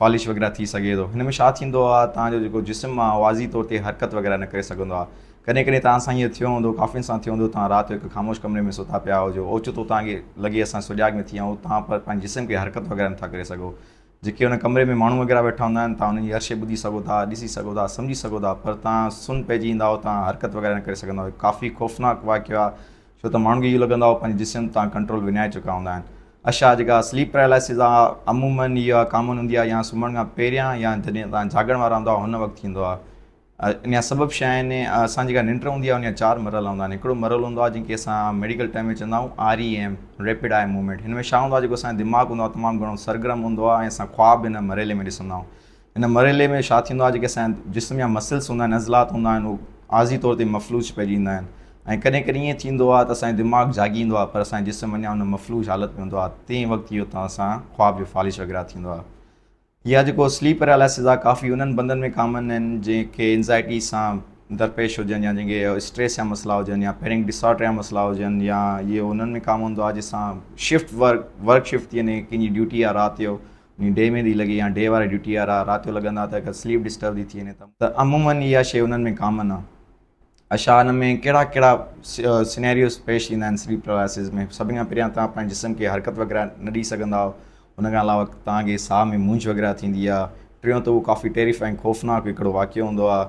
فالش وغيره ٿي سگهي ٿو. هن ۾ ڇا ٿيندو آهي توهان جو جيڪو جسم آهي واضح طور تي حرڪت وغيره نه ڪري سگهندو آهي. ڪڏهن ڪڏهن توهان سان هيئن ٿيو هوندو ڪافين سان ٿيو هوندو توهان رات جو هڪ خاموش ڪمري ۾ ستا پيا هجو اوچتو توهان کي لڳي اسان سجاڳ نه ٿي آهيون توهان پر پنهنجي جسم کي حرڪت وغيره نه ٿا ڪري سگهو جيڪي ان ڪمري ۾ ماڻهو وغيره ويٺا هوندا آهن توهان انهن جي هر شئي ٻڌي سگهو ٿا ڏسي سگهو ٿا سمجهي سگهو ٿا پر توهان سن پئجي ايندا آهيو توهان حرڪت وغيره نه ڪري سگهندا آهيو هڪ ڪافي خوفناڪ واقعو آهي ڇو ته ماڻهن کي اهو لڳندو آهي هو پنهنجي جسم تان ڪنٽرول وڃائي چڪا هوندا آهن. اشعا جيڪا سليپ پئرالائسز آهي عموماً اها ڪامن هوندي آهي يا سمهڻ کان پهريان يا جڏهن توهان جاڳڻ وارا هوندا هن وقت ٿيندو آهي. ان جا سبب ڇا آهن؟ اسان جيڪا ننڊ هوندي آهي ان جا چار مرحلا هوندا آهن. هڪڙو مرحلو هوندو آهي جنهن کي اسان ميڊيڪل ٽرم ۾ چوندا آهيون R E M, rapid eye movement. هن ۾ ڇا هوندو آهي جيڪو اسان جو دماغ هوندو آهي تمام گهڻو سرگرم هوندو آهي ۽ اسان خواب ان مرحلي ۾ ڏسندا آهيون. ان مرحلي ۾ ڇا ٿيندو آهي جيڪي اسان جا جسم يا مسلس هوندا آهن عضلات هوندا آهن هو عارضي طور تي مفلوج پئجي ويندا آهن ۽ ڪڏهن ڪڏهن ائين ٿيندو آهي ته اسان جو دماغ جاڳي ايندو آهي پر اسان جو جسم اڃا ان مفلوج حالت ۾ هوندو آهي تنهن وقت اهو توهان سان خواب جو فالش وغيره ٿيندو آهي يا جيڪو سليپ پيرالائسز آهي ڪافي انهن بندن ۾ ڪامن آهن جنهن کي انزائٽي سان درپيش هجن يا جن کي اسٽريس جا مسئلا هجن يا پينڪ ڊس آرڊر جا مسئلا هجن يا اهو انهن ۾ ڪام هوندو آهي جنهن سان شفٽ ورڪ ورڪ شفٽ ٿي وڃي ڪنهن جي ڊيوٽي آهي رات جو ۽ ڊي ۾ ڏي لڳي يا ڊي واري ڊيوٽي وارا رات جو لڳن ها ته اگر سليپ ڊسٽرب ٿي ٿي وڃي ته عمومن اها شيء انهن ۾ ڪامن آهي. اشا ان ۾ ڪهڙا ڪهڙا سينيريوز پيش ايندا آهن سليپ پرالائسز ۾ سڀني کان پهريان توهان پنهنجي جسم کي حرڪت وغيره نه ڏئي سگهندا آهو ان کان علاوه توهان کي ساهه ۾ مونجهه وغيره ٿيندي آهي ٽيون ته اهو ڪافي ٽيريفائنگ خوفناڪ هڪڙو واقعو هوندو آهي